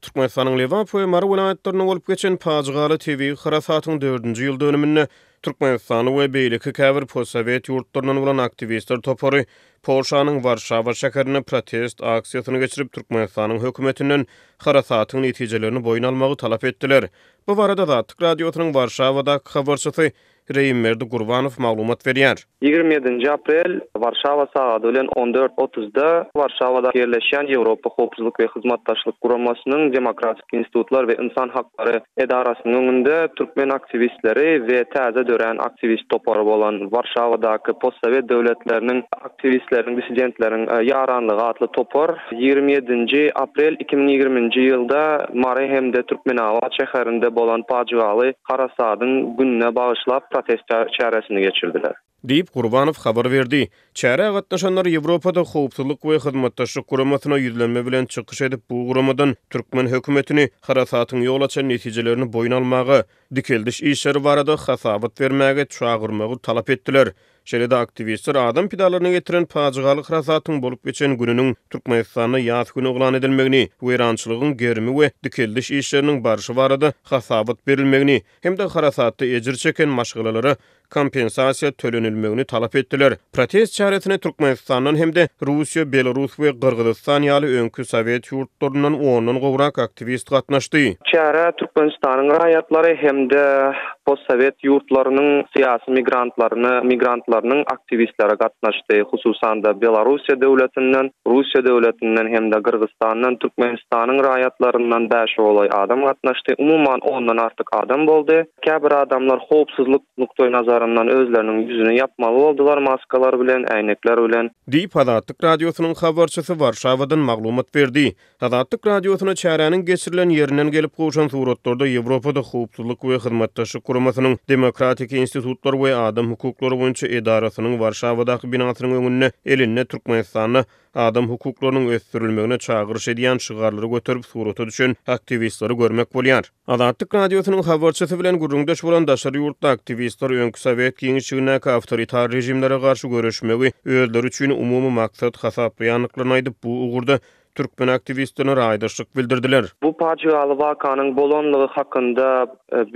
Türkmenistanyň Lebap we Mary welaýatlarynda bolup geçen pajygaly tebigy harasatyň dördünji ýyl dönüminde Türkmenistanly we beýleki käbir postsowet ýurtlaryndan bolan aktiwistler topary Polşanyň Warşawa şäherinde protest aksiýasyny geçirip, Türkmenistanyň hökümetinden harasatyň netijelerini boýun almagy talap etdiler. Bu barada Azatlyk Radiosynyň Warşawadaky habarçysy Reimberdi Gurbanow maglumat berýär. Ýigrimi ýedinji aprel, Warşawa sagady bilen on dört otuzda Warşawada ýerleşýän Ýewropa Howpsuzlyk we Hyzmatdaşlyk Guramasynyň Demokratik institutlar we ynsan haklary edarasynyň öňünde türkmen aktiwistleri we täze dörän aktiwist topary bolan Warşawadaky postsowet döwletleriniň Tiwistleriniň dissidentleriň ýaranlygy atly topar ýigrimi ýedinji aprel iki müň ýigriminji ýylda Mary hem-de Türkmenabat şäherinde bolan pajygaly harasadyň gününe bagyşlap protest çäresini geçirdiler. Diýip, Gurbanow habar berdi. Çärä gatnaşanlar Ýewropada Howpsuzlyk we Hyzmatdaşlyk Guramasyna ýüzlenme bilen çykyş edip, bu guramadan türkmen hökümetini harasatyň ýol açan netijelerini boýun almaga, dikeldiş işleri barada hasabat bermäge çagyrmagy talap etdiler. Şeýle-de aktiwistler adam pidalaryna getiren pajygaly harasatyň bolup geçen gününiň Türkmenistanda ýas güni yglan edilmegini, weýrançylygyň gerimi we dikeldiş işleriniň barşy barada hasabat berilmegini hem-de harasatda ejir çeken maşgalalara kompensasiýa tölenilmegini talap etdiler. Protest çäresine Türkmenistandan hem-de Russiýa, Belarus we Gyrgyzystan ýaly öňki sowet ýurtlaryndan ondan gowrak aktiwist gatnaşdy. Çärä Türkmenistanyň raýatlary hem-de Postsowet ýurtlarynyň syýasy migrantlaryny, migrantlarynyň aktiwistlere gatnaşdy, hususan-da, Belarussiýa döwletinden, Russiýa döwletinden hem-de Gyrgyzstandan, Türkmenistanyň raýatlaryndan bäşe golaý adam gatnaşdy, umuman, ondan artyk adam boldy. Käbir adamlar howpsuzlyk nukdaýnazaryndan özleriniň ýüzüni ýapmaly boldular maskalar bilen, äýnekler bilen. Diýip, Azatlyk Radiosynyň habarçysy Warşawadan maglumat berdi. Azatlyk Radiosyna çäräniň geçirilen ýerinden gelip gowşan suratlarda Ýewropada Howpsuzlyk we Hyzmatdaşlyk Guramasynyň Demokratik institutlar we adam hukuklary boýunça edarasynyň Warşawadaky binasynyň öňünde elinde Türkmenistanda adam hukuklarynyň ösdürilmegine çagyryş edýän şygarlary göterip surata düşen aktiwistleri görmek bolýar. Azatlyk Radiosynyň habarçysy bilen gürrüňdeş bolan daşary ýurtly aktiwistler öňki sowet giňişligindäki awtoritar režimlere garşy göreşmegi özleri üçin umumy maksat hasaplaýandyklaryny aýdyp, bu ugurda türkmen aktiwistlerine raýdaşlyk bildirdiler. Bu pajygaly wakanyň bolanlygy hakynda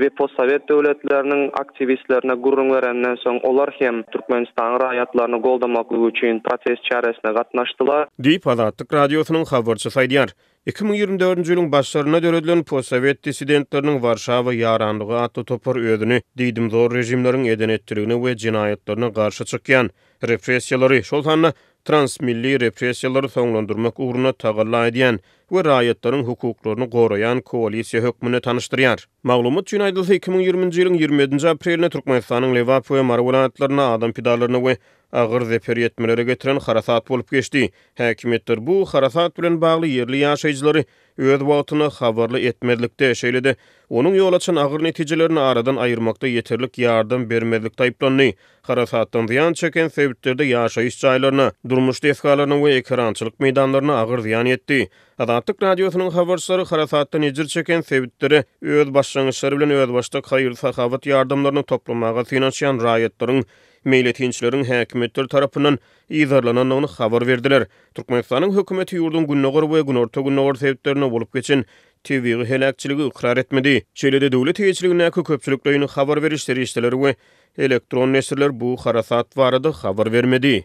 we postsowet döwletleriniň aktiwistlerine gürrüň berenden soň, olar hem Türkmenistanyň raýatlaryny goldamaklygy üçin protest çäresine gatnaşdylar. Diýip, Azatlyk Radiosynyň habarçysy aýdýar. Iki müň ýigrimi dördünji ýylyň başlarynda döredilen Postsowet dissidentleriniň Warşawa ýaranlygy atly topar özüni diýdimzor režimleriň eden-etdiligine we jenaýatlaryna garşy çykýan, repressiýalary, şol sanda transmilli repressiýalary soňlandyrmak ugrunda tagalla edýän we raýatlaryň hukuklaryny goraýan koalisiýa hökmünde tanyşdyrýar. Maglumat üçin aýdylsa, iki müň ýigriminji ýylyň ýigrimi ýedinji aprelinde Türkmenistanyň Lebap we Mary welaýatlarynda adam pidalaryna we agyr zeper ýetmelere getiren harasat bolup geçdi. Häkimiýetler bu harasat bilen bagly ýerli ýaşaýjylary öz wagtyna habarly etmezlikde, şeýle-de onuň ýol açan agyr netijelerini aradan aýyrmakda ýeterlik ýardam bermezlikde aýyplandy. Harasatdan zyýan çeken sebitlerde ýaşaýyş jaýlaryna, durmuş desgalaryna we ekerançylyk meýdanlaryna agyr zyýan ýetdi. Azatlyk Radiosynyň habarçylary harasatdan ejir çeken sebitlere öz başlangyçlary bilen özbaşdak haýyr-sahawat ýardamlaryny toplamaga synanyşýan raýatlaryň meýletinçileriň häkimiýetler tarapyndan yzarlanandygyny habar berdiler. Türkmenistanyň hökümeti ýurduň gündogar we günorta-gündogar sebitlerinde bolup geçen tebigy heläkçiligi ykrar etmedi. Şeýle-de döwlet eýeçiligindäki köpçülikleýin habar beriş serişdeleri we elektron neşirler bu harasat barada habar bermedi.